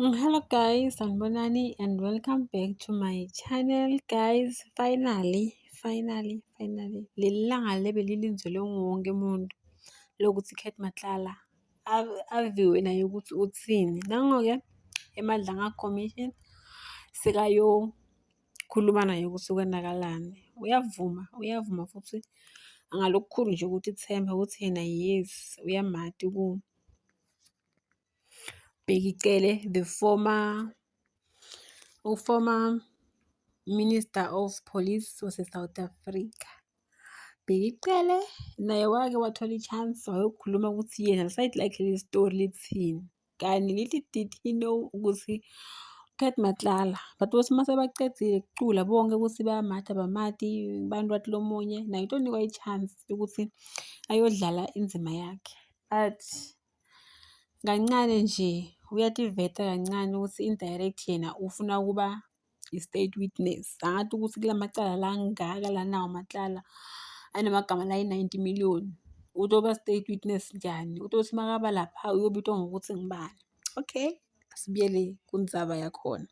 Mm, hello guys, sanibonani and welcome back to my channel guys. Finally, finally, finally. Leli langa lebe lilinzelwe wonke umuntu lokuthi Kate Matlala aviwe naye ukuthi uthini. Nango-ke eMadlanga Commission sekayokhuluma naye ukuthi kwenakalani. Uyavuma, uyavuma futhi angalokukhulu nje ukuthi ithemba ukuthi yena yes uyamati ku Bheki Cele, the former uformer minister of police wase-south africa Bheki Cele naye wake wathola i-chance wayokhuluma ukuthi yena lisayidi lakhe leli story lithini kani lithi did he know ukuthi Cat Matlala but ukuthi uma sebaqedile kucula bonke ukuthi bayamatha abamati abantu bathi lo munye naye utonikwa i-chance yokuthi ayodlala indima yakhe but Kancane nje uyativeta kancane ukuthi indirect yena ufuna ukuba i-state witness. Angathi ukuthi kula macala la angaka lanawo macala anamagama la yi-ninety million. Utoba state witness njani? Utothi makaba lapha uyobitwa ngokuthi ngibani. Okay, asibuyele kundzaba yakhona.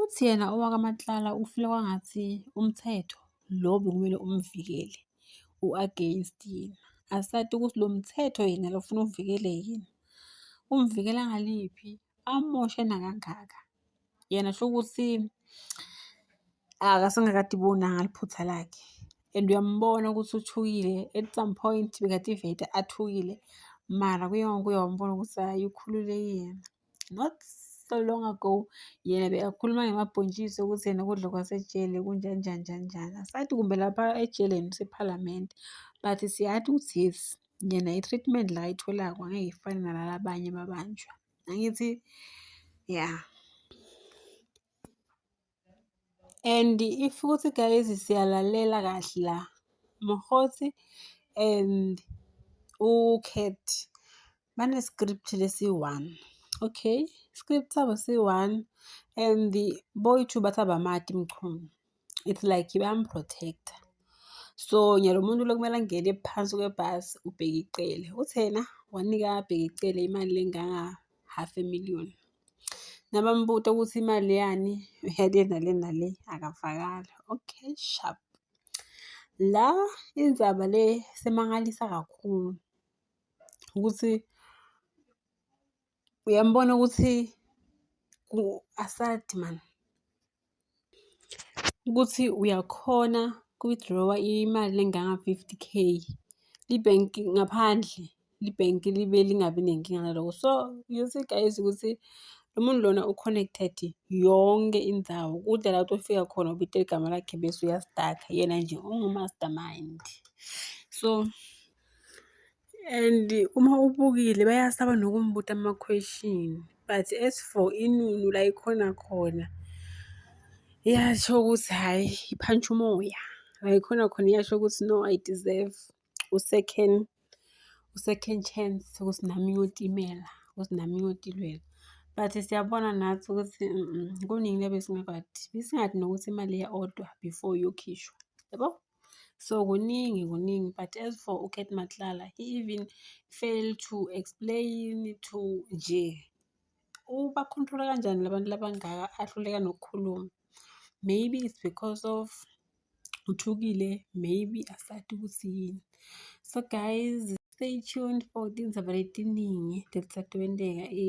Uthi yena owakwaMatlala ufila kwangathi umthetho lo obekumele umvikele u-against yena. Asazi ukuthi lo mthetho yena lo ufuna uvikele yini. Umvikela ngaliphi? Amoshe nakangaka. Yena shukuthi akasengakade ibonanga liphutha lakhe and uyambona ukuthi uthukile at some point bekade ivete athukile mara kuye ngokuye wambona ukuthi hhayi ukhululekile. not so long ago yena bekakhuluma ngemabhontshisi ukuthi yena ukudla kwasejele kunjanjani njanjani asathi kumbe lapha ejeleni usephalamende but siyathi ukuthi yes yena i-treatment la ayitholako angeke ifane nalala abanye babanjwa angithi ya yeah. and if ukuthi guys siyalalela kahle la mhosi and ucat bane-script lesi-one okay script sabo si-one and the boy two bathi abamati mchunu it's like bayamprotecta so nyalo muntu lokumele angene phansi kwebhasi ubheke icele uthena wanika abheke icele imali lenganga half a million. Nabambuta ukuthi imali yani yale nale nale akafakali. Okay sharp. La indzaba le semangalisa kakhulu ukuthi uyambona ukuthi asadi mani. ukuthi uyakhona ku-withdraw-a imali enganga-fifty K. Ibhenki ngaphandle, ibhenki libe lingabi nenkinga naloko. So, you see guys ukuthi lo muntu lona u-connected yonke indawo. Kude la ukuthi ufika khona ubite igama lakhe bese uyastaka, yena nje ungu-mastermind. So, And uma ubukile bayasaba nokumbuta ama-question but as for inunu la ikhona khona iyasho ukuthi hhayi iphantsha umoya la ikhona khona iyasho ukuthi no i deserve u-second u-second chance ukuthi nami ngiyotimela ukuthi nami ngiyotilwela but siyabona nathi ukuthi kuningi lebe singakwazi besingathi nokuthi imali ya-odwa before iyokhishwa yabo so kuningi kuningi but as for ucat matlala he even fail to explain to nje ubakhontrola kanjani labantu labangaka ahluleka nokukhuluma maybe it's because of uthukile maybe asati ukuthi yini so guys stay tuned for tindzaba letiningi letisatwenteka e